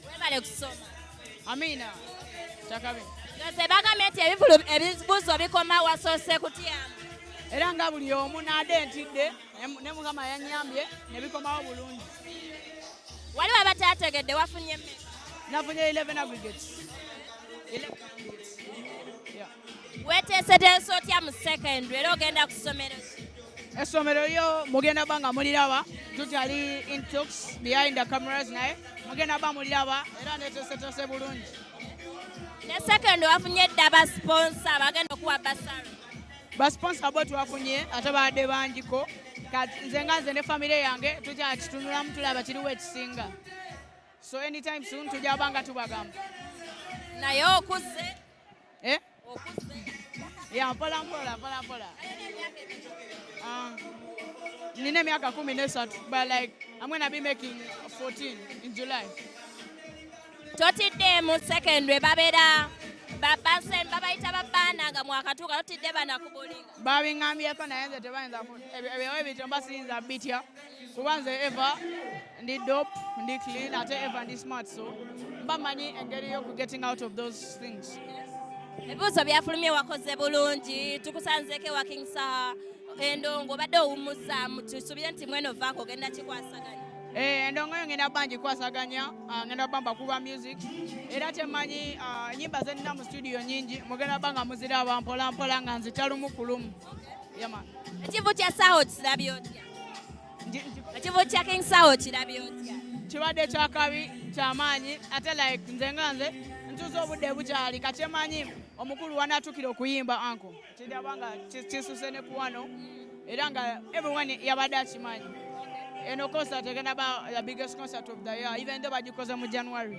Webale kusoma. Amina. Chakabe. Yose bagambye nti ebivulu ebibuzo bikoma wasoose kutyamu. Era nga buli omu naade ntidde ne Mukama yanyambye ne bikomawo bulungi. Wali waba tategedde wafunye mmeka? Nafunye 11 aggregates. 11 aggregates. weteeseteesa otya mu secondary era ogenda ku ssomero essomero lyo mugenda ba nga muliraba tukyali intox behind the cameras naye mugenda ba muliraba era neteeseteese bulungi ne secondary wafunye dda basponsa bagenda okuwa basara basponsa bo twafunye ate baadde bangiko nze nga nze ne famire yange tukyakitunulamu tulaba kiriwo ekisinga so anytime soon tujja banga tubagamba naye okuze eh? ya mpola mpola mpola mpola ah. nina emyaka kumi nesatu but like I'm gonna be making 14 in July totidde mu secondary babera babasen babayita babaana nga mwakatuuka totidde banakubulinga babingambyeeko naye nze tebayinza ebyo ebityo mba siyinza bitya kuba nze eva ndi dop ndi clean ate eva ndi smart so mba manyi engeri yoku getting out of those things ebibuuzo byafulumye wakoze bulungi tukusanzeeko ewa king saha endongo obadde owummuzaamu tusubire nti mweno vaako ogenda kikwasaganya eh, endongo yo ngenda bangi kwasaganya ah, ngenda bamba kuba music era temanyi ah, nyimba zenina mu studio nyingi mugenda banga muziraba mpolampola nga nzitalumu kulumu ekivvo kya saawa okirabye otya ekivo kya king sawo kirabye otya kibadde kyakabi kyamaanyi ate like nze nga nze ntuuza obudde bukyali kakyemanyi omukulu wanatukira okuyimba anko kiraba nga kisuse ne kuwano era nga everyone yabadde akimanyi eno concert egenda ba the biggest concert of the year even though bagikoze mu january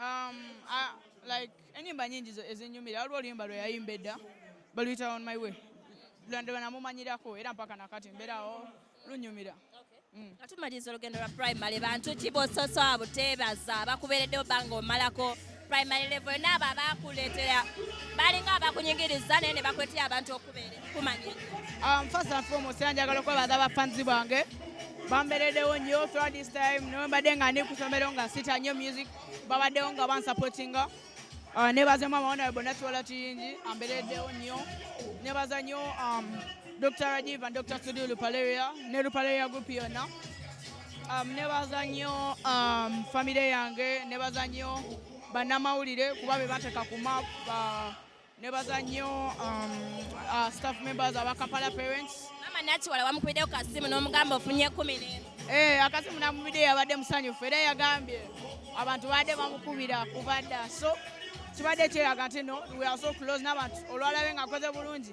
Um, I, like enyimba nyingi ezinyumira waliwo oluyimba lwe yayimba edda baluyita on my way lwandaba namumanyirako era mpaka nakati mbeerawo lunyumira mm. nga tumaliriza olugendo lwa primary bantu ki bososoa buteebaza bakubeereddewo banga omalako primary level naabo abakuleetera balinga abakunyigiriza naye ne bakweteya abantu okubeera kumanya um, first and foremost njagala okwebaza abafanzi bange bamberedewo nnyo throughout this time nawe mbadde nga ndi kusomero nga sita nnyo music babaddewo nga bansupportinga uh, nebaza mama wana bonna tuwala kiyingi amberedewo nnyo nebaza nnyo um, dr rajiv and dr studio lupaleria ne lupaleria group yonna um, nebaza nnyo um, famire yange nebaza nnyo bannamawulire kuba be bateka ku map uh, Nebaza nnyo um, uh, staff members aba Kampala Parents. Mama Nakiwala wamukubidde ku kasimu n'omugamba ofunye ekkumi n'emu. Eh, akasimu namubidde yabadde musanyufu era yagambye abantu baadde bamukubira kuba dda so kibadde kyeraga nti no we are so close n'abantu olwalabe ng'akoze bulungi